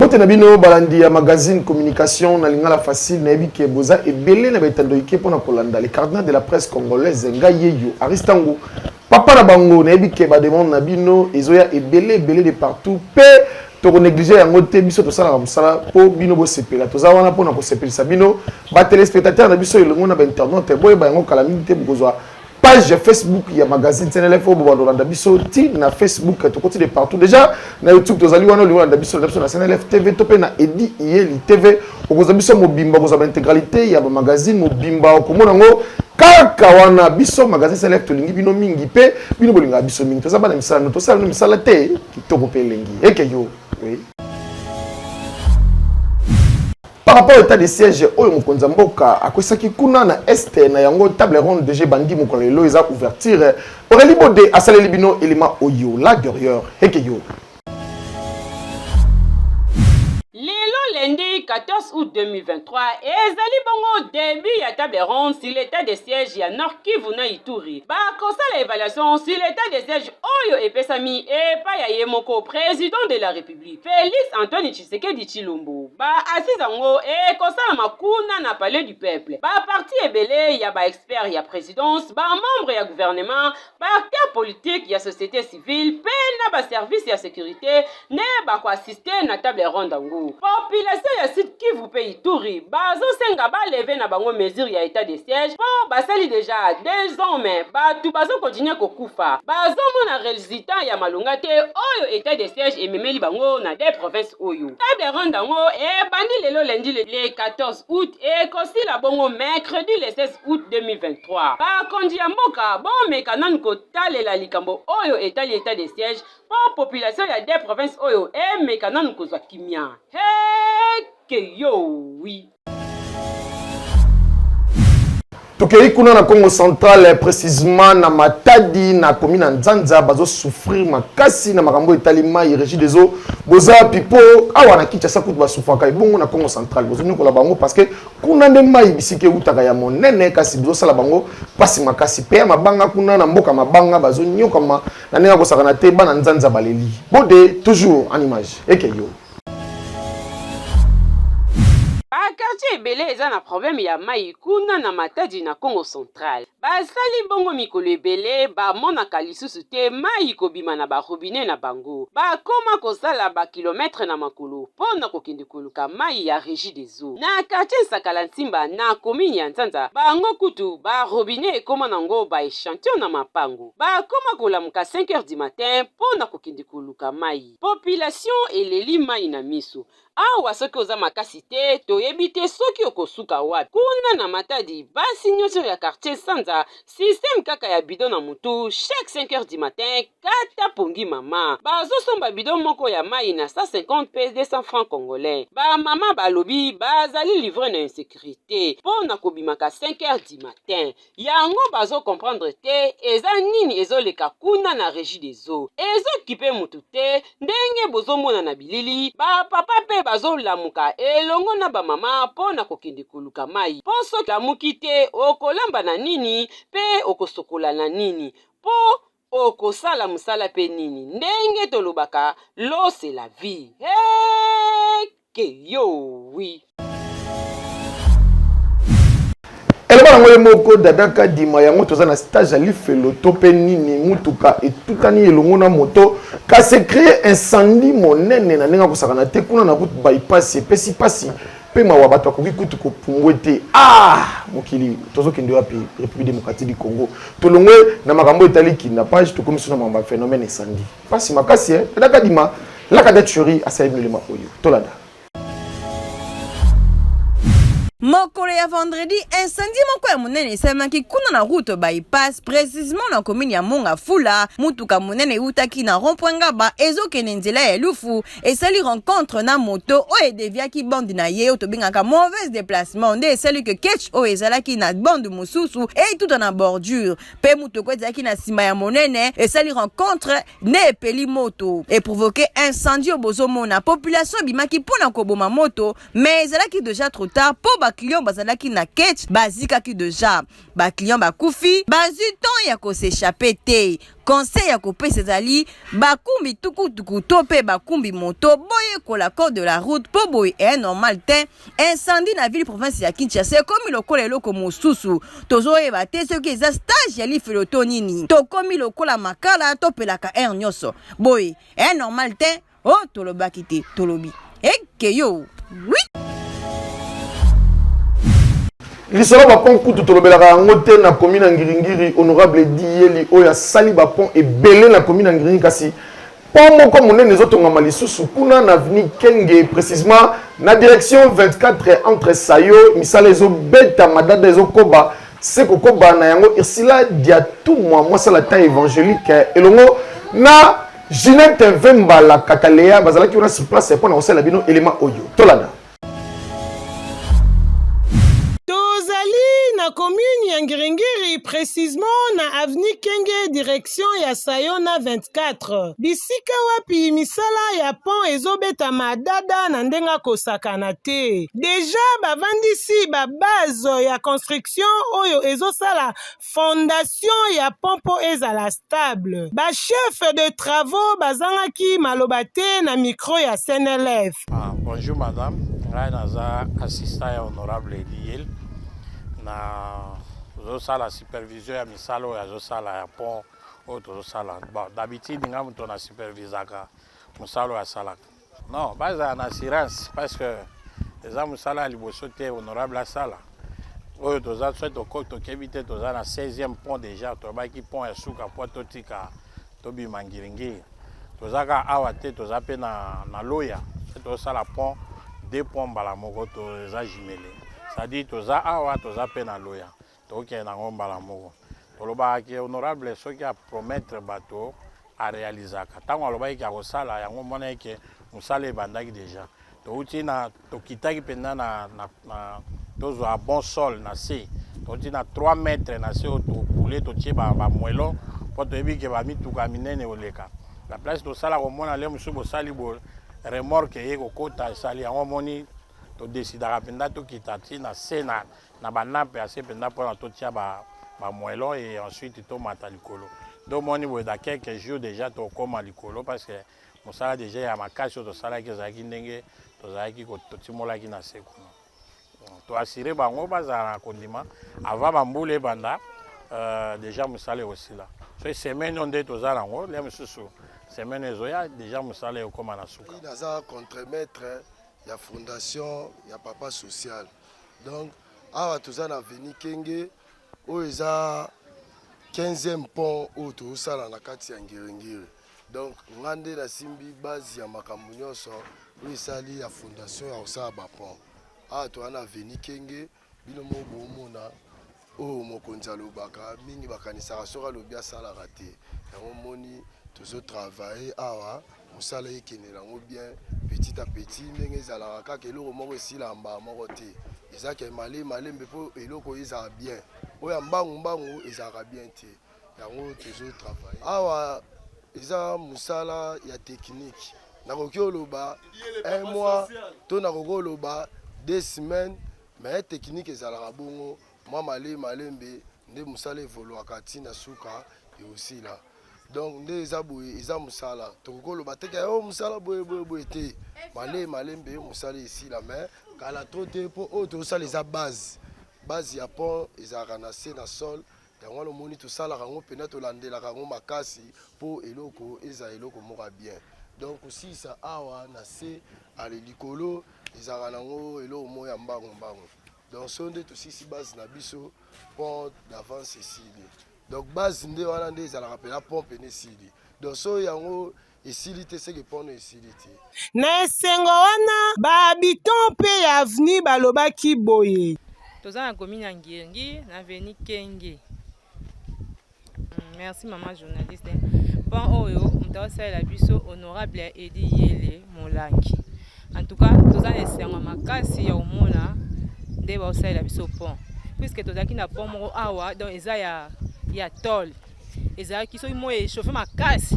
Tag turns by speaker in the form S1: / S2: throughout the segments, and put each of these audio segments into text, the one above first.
S1: mbote na bino balandi ya magazine communication na lingala facile nayebi ke boza ebele na baetando ike mpo na kolanda le cardinal de la presse congolaise ngai yeyo aristango papa na bango nayebi ke bademande na bino ezoya ebele ebele de partout mpe tokonéglige yango te biso tosalaka mosala mpo bino bosepela toza wana mpo na kosepelisa bino batelespectateur na biso elongo na bainternaute boyeba yango kala mingi te bokozwa page ya facebook ya magazine cnl fo bobanda olanda biso ti na facebook tokoti de partout déjà na youtube tozali wana olingi olanda biso landa biso na cnl tv to mpe na edi iyeli tv okozwa biso mobimba okozwa baintégralité ya bamagazine mobimba okomona yango kaka wana biso magazine cnl tolingi bino mingi mpe bino bolingaka biso mingi toza bana misala no tosala no misala te kitoko mpe elengi eke yo oui. Par rapport à l'état de siège, oyo mokonzi ya mboka akwesaki kuna na est na yango table ronde déjà ebandi mokolo lelo eza ouverture. Aurélie Bode asaleli bino elima oyo la derrière heke yo.
S2: Lelo lundi 14 août 2023 ezali bongo début ya table ronde sur l'état de siège ya Nord Kivu na Ituri. Bakosala évaluation sur l'état de siège oyo epesami epai ya ye moko président de la République. Republique Felix Antoine Tshisekedi Tshilombo. Ba assises yango ekosalama kuna na Palais du Peuple. Ba parti ebele ya ba experts ya presidence, ba membres ya gouvernement, ba acteurs politiques ya société civile mpe na ba services ya securite nde bako assister na table ronde yango. Population ya Sud Kivu pe Ituri bazosenga baleve na bango mesure ya etat de siège po basali deja deux ans me bato bazo continue kokufa bazomona resultat ya malonga te oyo etat de siège ememeli bango na de province oyo table ronde yango ebandi lelo lundi le 14 août ekosila bongo mercredi le 16 août 2023 bakonzi ya mboka bomeka nanu kotalela likambo oyo etali etat de siège mpo population ya de province oyo emeka nanu kozwa kimia heke yowi
S1: tokei kuna na congo central eh, précisement na matadi na komi na nzanza bazosouffrir makasi na makambo etali mai régi des eaux boza wapi mpo awa na kinshasa kutu basufaka ebongo na congo central bozonyokola bango parce que kuna nde mai bisika eutaka ya monene kasi bozosala bango mpasi makasi mpe ya mabanga kuna na mboka mabanga bazonyokama Na ndenge akosakana te bana nzanza baleli. Bode toujours en image. Eke yo.
S2: Ba quartier ebele eza na problème ya mayi kuna na Matadi na Kongo central. Basali bongo mikolo ebele bamonaka lisusu te mayi kobima na ba robinet na bango. Bakoma kosala ba kilomètre na makolo po na kokende koluka mayi ya regie des eaux. Na quartier Nsakala Nsimba na commune ya Nzanza bango kutu ba robinet ekoma nango ba echantion na mapango. Ba koma kolamuka 5 heures du matin po na kokende koluka mayi. Population eleli mayi na miso. Awa soki oza makasi te, toyebi te soki okosuka wapi. Kuna na Matadi, basi nioso ya quartier Sanza, système kaka ya bidon na mutu, chaque 5 heures du matin, kata pongi mama. Bazo somba bidon moko ya mayi na 150 pe 200 francs congolais. Ba mama balobi bazali livres na insecurite po na kobimaka 5 heures du matin. Yango bazo comprendre te eza nini ezo leka kuna na regie des eaux ezo kipe mutu te ndenge bozo mona na bilili ba papa pe bazo lamuka elongo na ba mama po na kokende koluka mayi po soki olamuki te okolamba na nini pe okosokola na nini po Okosala mosala mpe nini? Ndenge tolobaka, l'eau c'est la vie. Hey! Que yo, oui.
S1: eloba yango ye moko dada kadima yango toza na stage ya lifelo to mpe nini motuka etutani elongo na moto kasi ecree incendie monene na ndenge akosakana te kuna na route bypass epesi mpasi Pe mawa batu bakoki kutu ko pumbwe te aah mokili tozo kende wapi Republique Democratique du Congo tolongwe na makambo etali kidnappage tokomi suna makambo ya phenomène incendie pasi makasi hein Dada Kadima laka date cheri asali bino lema oyo tolanda
S3: Mokolo ya vendredi, incendie moko ya monene esalemaki kuna na route bypass, precisement na commune ya Monga Fula. Mutuka monene eutaki na rond-point Ngaba ezokende nzela ya Lufu, esali rencontre na moto oyo edeviaki bande na ye oyo tobengaka mauvaise déplacement nde esali ke ketch oyo ezalaki na bande mosusu etuta na bordure mpe motoko ezalaki na nsima ya monene esali rencontre nde epeli moto eprovoke incendie oyo bozomona population ebimaki mpo na koboma moto mais ezalaki deja trop tard mpo baclient bazalaki na ketch bazikaki deja baclient bakufi bazwi temps ya kosechapper te Conseil ya kopesa ezali bakumbi tukutuku to mpe bakumbi moto boyekola code de la route mpo boye e eh, normal te incendie na ville province ya kinshasa ekomi lokola eloko mosusu tozoyeba te soki eza stage ya lifelo to nini tokomi lokola makala topelaka aire nyonso boye e eh, normal te Oh, tolobaki te, tolobi. Eke yo. Oui.
S1: lisolo bapont kutu tolobelaka yango te na komi na ngiringiri honorable diyeli oyo asali bapont ebele na komi na ngiringiri kasi pont moko monene ezotongama lisusu kuna na aveni kenge précisement na direction 24 entre sayo misala ezobeta madada ezokoba se kokoba na yango ursula diatumwa mwasala ta évangélique elongo na Ginette Vembala Katalea bazalaki wana sur place mpo na kosalela bino elema oyo. Tolanda.
S4: na commune ya Ngiringiri precisement na avenue Kenge direction ya Sayona 24 bisika wapi misala ya pont ezobetama dada na ndenge akosakana te deja bavandisi ba base ya construction oyo ezosala fondation ya pont mpo ezala stable. Ba chefs de travaux bazangaki maloba te na micro ya CNLF. Ah, bonjour madame,
S5: ngai naza assistant ya honorable Eliel na zosala supervision ya misala oyo azosala ya pont oyo tozosala. Bon, d'habitude ngai moto na supervisaka mosala oyo asalaka. Non, bazala na assurance parce que eza mosala ya liboso te honorable asala oyo toza so toko tokebi te toza na 16e pont déjà toyabaki pont ya suka mpo totika tobima ngiringiri toza kaka awa te toza mpe na, na loya so tosala pont deux pont mbala moko toza jumele cestadire toza awa toza mpe na loya Tokende na ngo mbala moko. Tolobaka ke honorable soki a promettre bato a realisaka. Tango alobaki ke akosala yango omonaki ke mosala ebandaki dejà. Towuti na tokitaki mpenza na na na tozwa bon sol na se. Towuti na 3 mètres na se oyo to couler totie ba ba moellons mpo toyebi ke ba mituka ya minene ekoleka. Na place tosala komona lelo mosusu bosali boye remorque eye kokota esali yango omoni to decidaka mpenza tokita ti na se na na ba nape ya se mpenza mpo na totia ba ba moellon et ensuite tomata likolo donc moni boye dans quelques jours déjà tokoma likolo parce que mosala déjà ya makasi oyo tosalaki ezalaki ndenge tozalaki totimolaki na se kuna toassure bango bazala na kondima avant bambula ebanda euh, déjà mosala ekosila soki semaine oyo nde toza nango lia mosusu semaine ezoya déjà mosala ekokoma na suka naza contremaître
S6: ya fondation ya papa social Donc awa toza na avenue Kenge oyo eza 15e pont oyo tozosala na kati ya Ngiringiri. Donc nga nde nasimbi base ya makambo nyonso oyo esali ya fondation ya kosala ba pont. Awa toza na avenue Kenge bino moko bomona oyo mokonzi alobaka mingi bakanisaka soki alobi asalaka te yango omoni tozo travaille awa mosala ekendela yango bien petit à petit ndenge ezalaka kaka eloko moko esila mbaa moko te ezalaka emale malembe mpo eloko ezala bien oyo ya mbangu mbangu ezalaka bien te yango tozo travaille awa eza mosala ya tekinike nakoki oloba un mois to nakoki oloba deux semaines Mais technique ezalaka bongo mwa male malembe nde musala evoluaka ti na suka eosila donc nde eza boye eza musala tokoki koloba te ke o oh, musala boye boye boye te male malembe musala esila mais kala trop te mpo oyo tozosala eza base base ya pont ezalaka na se na sol Yango wana omoni tosalaka yango mpenza, tolandelaka yango makasi mpo eloko ezala eloko moko ya bien. Donc kosilisa awa na se ale likolo ezalaka nango eloko moko ya mbangu mbangu. Donc so nde tosilisi base na biso, pont d'avance esili. Donc base nde wana nde ezalaka mpenza pont mpenza esili. Donc so yango esili te seke porno esili te. Na esengo
S4: wana, ba habitants mpe ya avenue balobaki boye. Toza na commune
S7: ya Ngirngi na avenue Kenge. Hmm, merci maman journaliste. Pan oyo moto asalela biso honorable ya Edi Yele Molangi. En tout cas, toza na esengo makasi ya omona nde baosalela biso pont puisque tozalaki na pont moko awa donc eza ya ya tole ezalaki soki moi echauffe makasi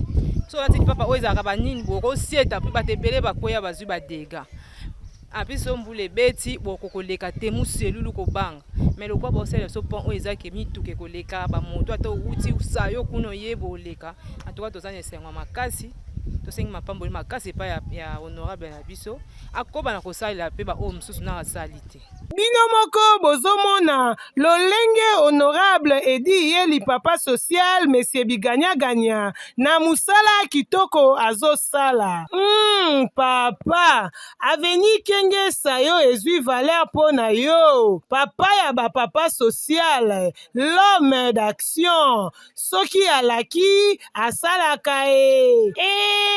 S7: soki olati lipapa oyo ezalaka banini bokosieta mpe bato ebele bakweya bazwi badega apui so mbula ebeti bokokoleka te moselulu kobanga me lokola bosalela so pont oyo ezaki mituka ekoleka bamoto ata outi usa yo kuna oye boleka antuka toza na esengo makasi tosengi mapamboli makasi epai ya honorable na biso akoba na kosalela mpe baoyo mosusu na asali te Bino moko
S4: bozomona lolenge honorable edi ye lipapa social monsieur biganya ganya na musala kitoko azosala hum papa avenue kenge sayo ezui valeur po na yo papa ya ba papa social l'homme d'action soki alaki asalaka e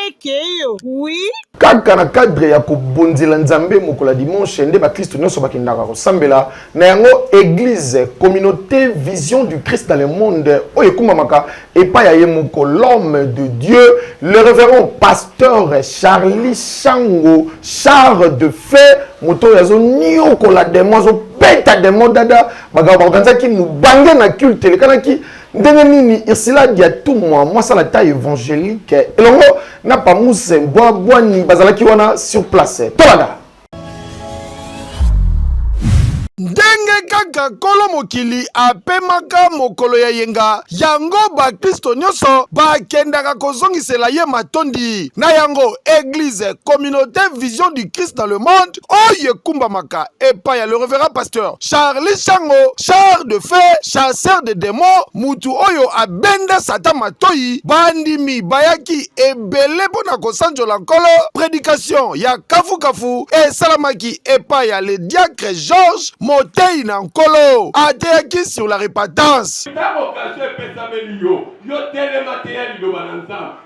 S4: ekeyo wi kaka na cadre
S1: ya kobonzela nzambe mokolo ya dimanche nde bakristo nyonso bakendaka kosambela na yango eglise communauté vision du christ dans le monde oyo ekumbamaka epai ya ye moko l'homme de dieu le révérend pasteur charlie shango char de fe moto oyo azoniokola demo azobeta demo dada makambo baorganisaki mobange na culte elekanaki ndenge nini ursula diatumwa mwasi alata évangélique elongo na pamuse bwa bwani bazalaki wana sur place tolanda ndenge kaka nkolo mokili apemaka mokolo ya yenga yango bakristo nyonso bakendaka kozongisela ye matondi na yango eglize communaute vision du christ dans le monde oyo ekumbamaka epai ya le reverend pasteur charli shango char de fe chasseur de demon mutu oyo abenda satan matoi bandimi bayaki ebele mpo na kosanjola nkolo predication ya kafukafu esalamaki epai ya le diacre georges motei na nkolo ateyaki sur la repentance ntango okazio epesameli yo yo telema teya liloba na nzambe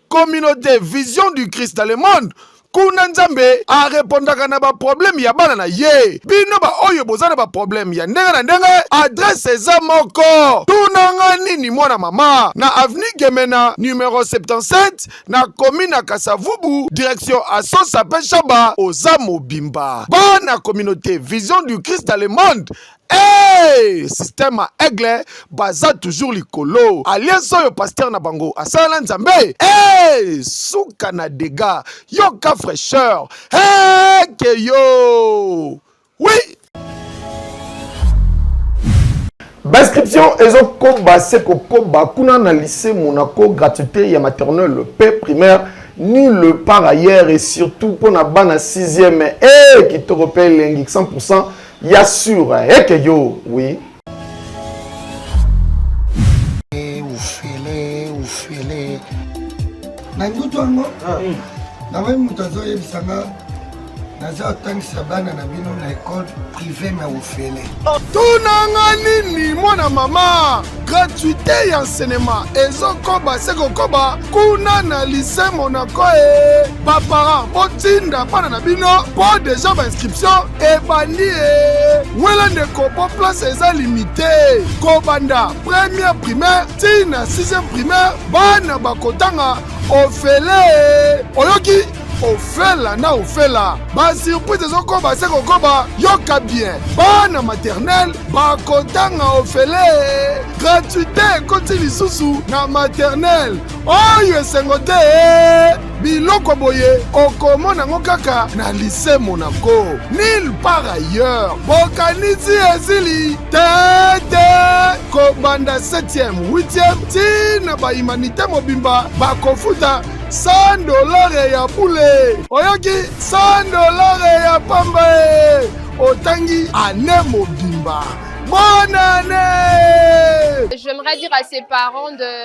S1: communaute vision du christ dans le monde kuna nzambe arepondaka na baprobleme ya bana na ye bino baoyo boza na baprobleme ya ndenge na ndenge adrese eza moko tunanga nini mwana mama na aveni gemena numero 77 na komi na kasavubu direction asosa pe shaba oza mobimba bana communauté vision du christ le monde Hey, système ya aigle baza toujours likolo alias oyo pasteur na bango asalala nzambe hey, suka na dega yoka fraîcheur hey, ke yo oui Bascription ezokoba se kokoba kuna na lycée Monaco gratuité ya maternelle pe primaire nul par ailleurs et surtout mpo na bana 6e e kitoko mpe elengi 100 Ya sur heke yo oui.
S6: na ndutu yango ah. hmm. namoni moto azoyebisa nga naza otangisa bana na bino na ekole prive na ofele tunanga
S1: nini mwana mama gratuité ya cinema ezokoba se kokoba kuna na lise monaco e baparent botinda bana na bino mpo deja bainscription ebandi e wela ndeko mpo place eza limite kobanda première primaire ti na sixième primaire bana bakotanga ofele oyoki ofela na ofela basurprise ezokoba se kokoba yoka bien bana maternele bakotanga ofele gratuité ekoti lisusu na maternele oyo esengo te eh! biloko boye okomona yango kaka na lise monaco nil par ailleurs bokanisi ezili tete kobanda 7e 8e ti na bahumanité mobimba bakofuta 100 dolare ya bule oyoki 100 dolare ya pamba e otangi ane mobimba bonne année j'aimerais dire à
S8: ses parents de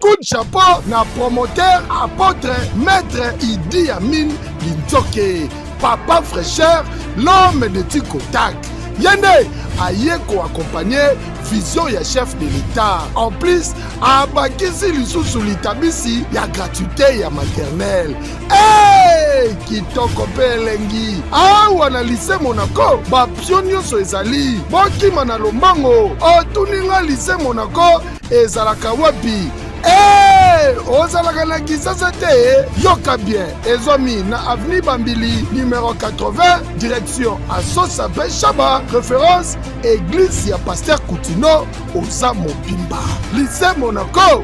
S8: Coup de chapeau na
S6: promoteur apotre maître Idi Amin Linzoke papa fraîcheur l'homme de Tikotak ye nde aye koakompagne vision ya chef de l'etat en plus abakisi lisusu litabisi ya gratuité ya maternel hey! kitoko mpe elengi awa na lise monaco bapio nyonso ezali bokima na lombango otuni nga lise monaco ezalaka wapi Hey, ozalaka na kisasa te yoka bien ezwami na avenue bambili numero 80 direction asosa pe shaba référence église ya paster kutino oza mobimba lise monoko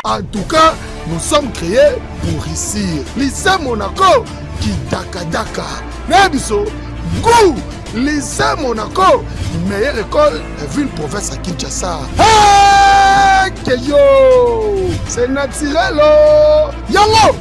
S6: en tout cas nous sommes créés pour réussir lise monako kidakadaka na biso gou Lycée Monaco, meilleure école de ville province à Kinshasa. Hey, que yo, c'est naturel. Oh. Yango.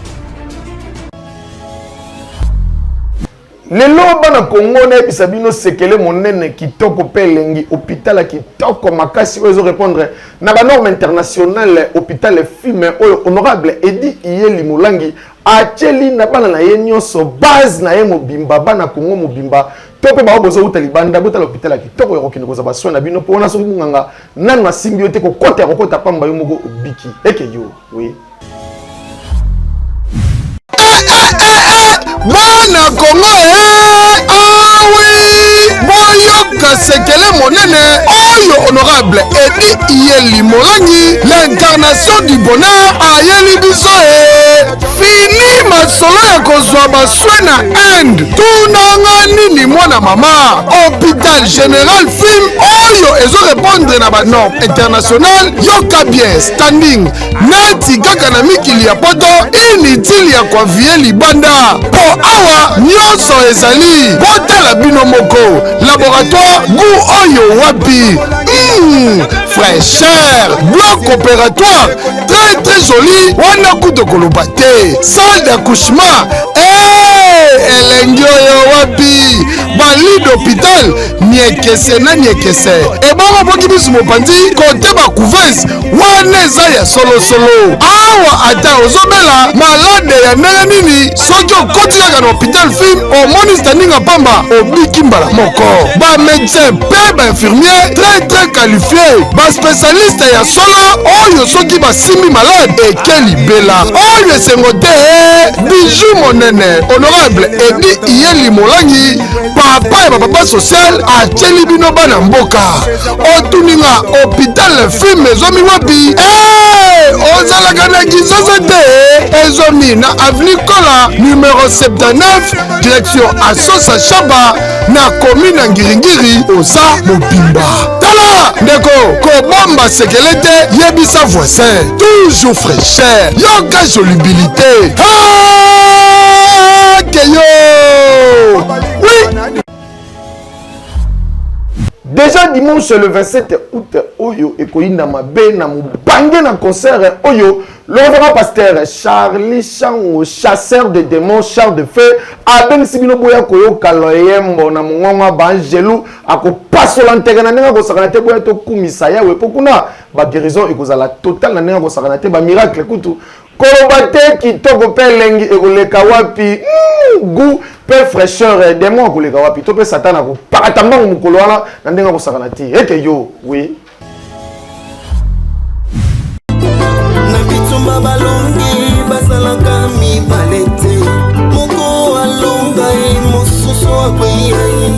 S1: lelo bana kongo nayebisa bino sekele monene kitoko mpe elengi hôpital ya kitoko makasi oyo ezorépondre na banorme internationale hôpital efime oyo honorable edi iyeli molangi atyeli na bana na ye nyonso base na ye mobimba bana kongo mobimba to mpe bango bozowuta libanda botala hôpital ya kitoko ya kokende kozwa basoin na bino mpo wana soki monganga nanu asimbi yo te kokota ya kokota pamba yo moko obiki eke yo oui.
S6: bana kongo e eh, awi ah boyo koluka sekele monene oyo honorable edi iye limolani l'incarnation du bonheur ayeli biso e fini masolo ya kozwa baswe na inde tunanga nini mwana mama hôpital général film oyo ezo repondre na banorme international yoka bien standing neti kaka na mikili ya poto inutile ya koaviye libanda mpo awa nyonso ezali botala bino moko laboratoire gu oyo wapi mm, fraîcheur bloc opératoire très très joli wana kuto koloba te salle d'accouchement hey, eh, elengi oyo wapi bali d'hôpital niekese na niekese ebongo boki bisu mopanzi kote ba couveuse wana eza ya solosolo awa ata ozobela malade ya ndenge nini soki okoti kaka na hopital film omoni standinga pamba obiki mbala moko bamedecin mpe bainfirmier très très qualifie baspecialiste ya solo oyo soki basimbi malade eke libela oyo esengo te biju monene honorable edi iyeli molangi papa ya bapapa social atyeli bino bana mboka otuni nga hopital filme ezomi wapi eh, ozalaka na kizozo te ezomi na avenue kola numero 79 direction asosa shaba na komi na ngiringiri oza mobimba tala ndeko kobomba sekele te yebisa voisin toujours fraîcheur yoka jolibilité hey!
S1: Déjà dimanche le 27 août oyo ekoyinda mabe na mobange na concert oyo lolobaka pasteur Charlie Chango chasseur de démons char de feu abengisi bino boya koyoka loyembo na mongongo ya baangelu akopasola nteke na ndenge akosakana te boya tokumisa yawe mpo kuna baguérison ekozala totale na ndenge akosakana te bamiracle kutu Koloba te kitoko pe elengi ekoleka wapi Hum, gout pe fraîcheur eh, demon akoleka wapi to pe satan akopakata mbangu mokolo wana na ndenge akosakana te ete yo oui
S9: na bitumba balongi bazalaka mibale te moko alonga ye mosusu akweya ye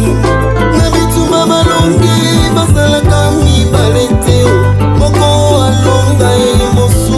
S9: na bitumba balongi bazalaka mibale te moko alonga ye mosusu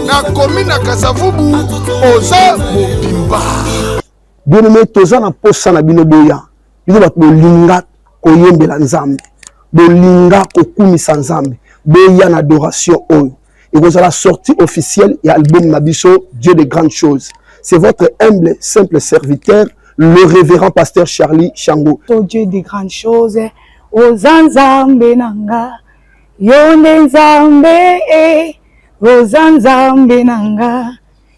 S1: na komi na kasavubu oza
S10: mobimba bien aimé toza na posa na bino boya bino bato bolinga koyembela nzambe bolinga kokumisa nzambe boya na adoration oyo ekozala sortie officielle ya album na biso dieu de grandes choses c'est votre humble simple serviteur le révérend pasteur charlie chango oh dieu de grandes
S11: choses oza nzambe na nga Yo nde Nzambe eh, oza Nzambe na nga,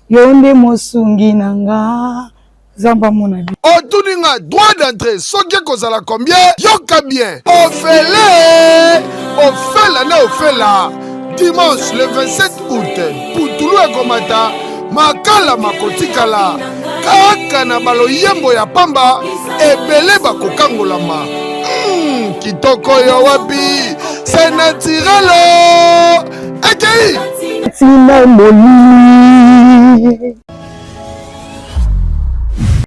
S11: yo nde mosungi na nga, Nzambe amona bi. otuni nga droit
S1: d'entrée soki ekozala combien yoka bien ofele ofela na ofela dimanche le 27 août putulu ekomata makala makotikala kaka na baloyembo ya pamba ebele bakokangolama mm, kitoko yo wapi se natirelo ekei tina
S10: molili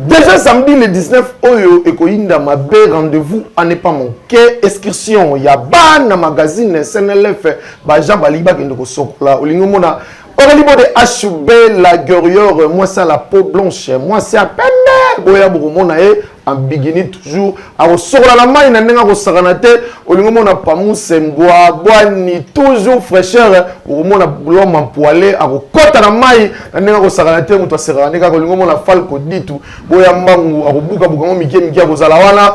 S1: Déjà samedi le 19 oyo ekoyinda mabe rendez-vous à ne pas manquer excursion ya bana magazine SNLF ba Jean baliba kende kosokola olingi mona Aurélie Bode Ashube la guerrière mwasi la peau blanche mwasi ya pembe boya bokomona ye ambigini toujours akosokola na mai na ndenge akosakana te olingi omona pamuse mbwa bwani toujours fraîcheur okomona lom ampoile akokɔta na mai na ndenge akosakana te moto asekaka nde kaka olingi omona falco ditu boya mbangu akobukabuka yango mike mike akozala wana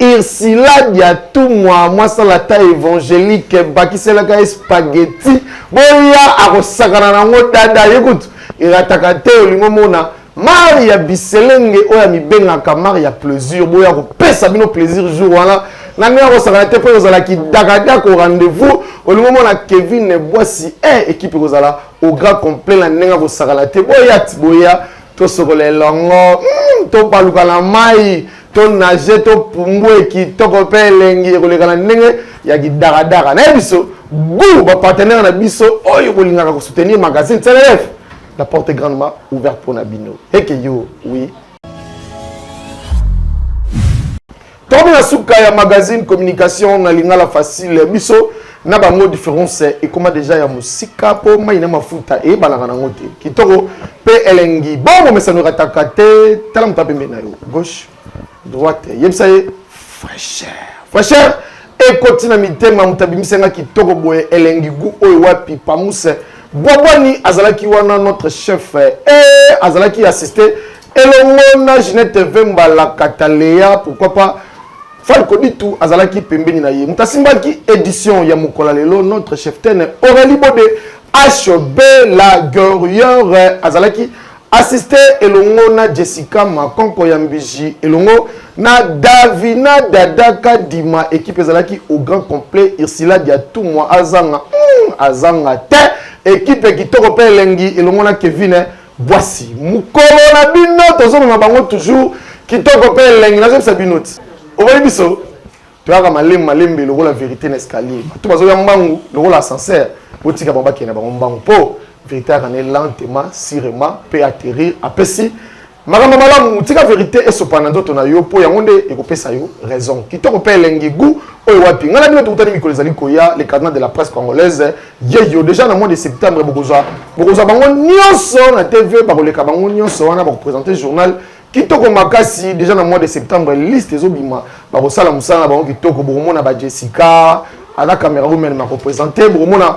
S1: Ursula Diatumwa mwasala ata evangelique bakiselaka ye spaghetti boya akosakana nango dada ye kutu erataka te olingo mona mari ya biselenge oyo amibengaka mari ya plaisir boya kopesa bino plaisir jour wana na ndenge akosakana te mpo ekozala kidakadako rendez-vous olingo mona kevin bwasi e eh, ekipe ekozala au grand complet na ndenge akosakana te boya boya tosokola elongo mm, tobaluka na mai tonage topumbue kitoko mpe elengi ekoleka na ndenge ya kidaradara naye biso gu bapartenere na biso oyo kolingaka kosoutenir magazine clf la porte grandement ouverte mpo na bino eke yo wi Tokomi na suka ya magazine communication na lingala facile biso na bango difference ekoma deja ya mosika mpo mai na mafuta eyebanaka nango te kitoko mpe elengi bongo mesano ekataka te tala moto apembeni na yo gauche droite yebisa ye fraîcheur fraîcheur ekoti na mitema moto abimisa nga kitoko boye elengi gu oyo wapi pamuse bwabwani azalaki wana notre chef e azalaki assiste Elongo na Ginette Vemba Lakata Lea pourquoi pas Falco Ditu azalaki pembeni na ye. Moto asimbaki edition ya mokola lelo notre cheftaine Aurélie Bode HB la Guerrière azalaki asiste elongo na Jessica Makonko ya Mbiji elongo na Davina Dada Kadima ekipe ezalaki au grand complet Ursula Diatumwa azanga mm, azanga te ekipe kitoko mpe elengi elongo na Kevin Bwasi mukolo na bino tozomema bango toujours kitoko pe elengi nazobisa bino ti oboyi biso toyaka malemu malembe lokola verite na escalier bato bazoya mbangu lokola ascenseur botika bango bakenda bango mbangu po verite ayaka ne lentement sirement pe atterrir apesi makambo malamu tika verite esopa na nzoto na yo mpo yango nde ekopesa yo raison kitoko mpe elengi gu oyo wapi ngai na bino tokutani mikolo ezali koya le carnet de la presse congolaise yeyo déjà na mois de septembre bokozwa bokozwa bango nyonso na tv bakoleka bango nyonso wana bakopresente journal kitoko makasi déjà na mois de septembre liste ezobima bakosala mosala na bango kitoko bokomona ba jessica ana camera women makopresente bokomona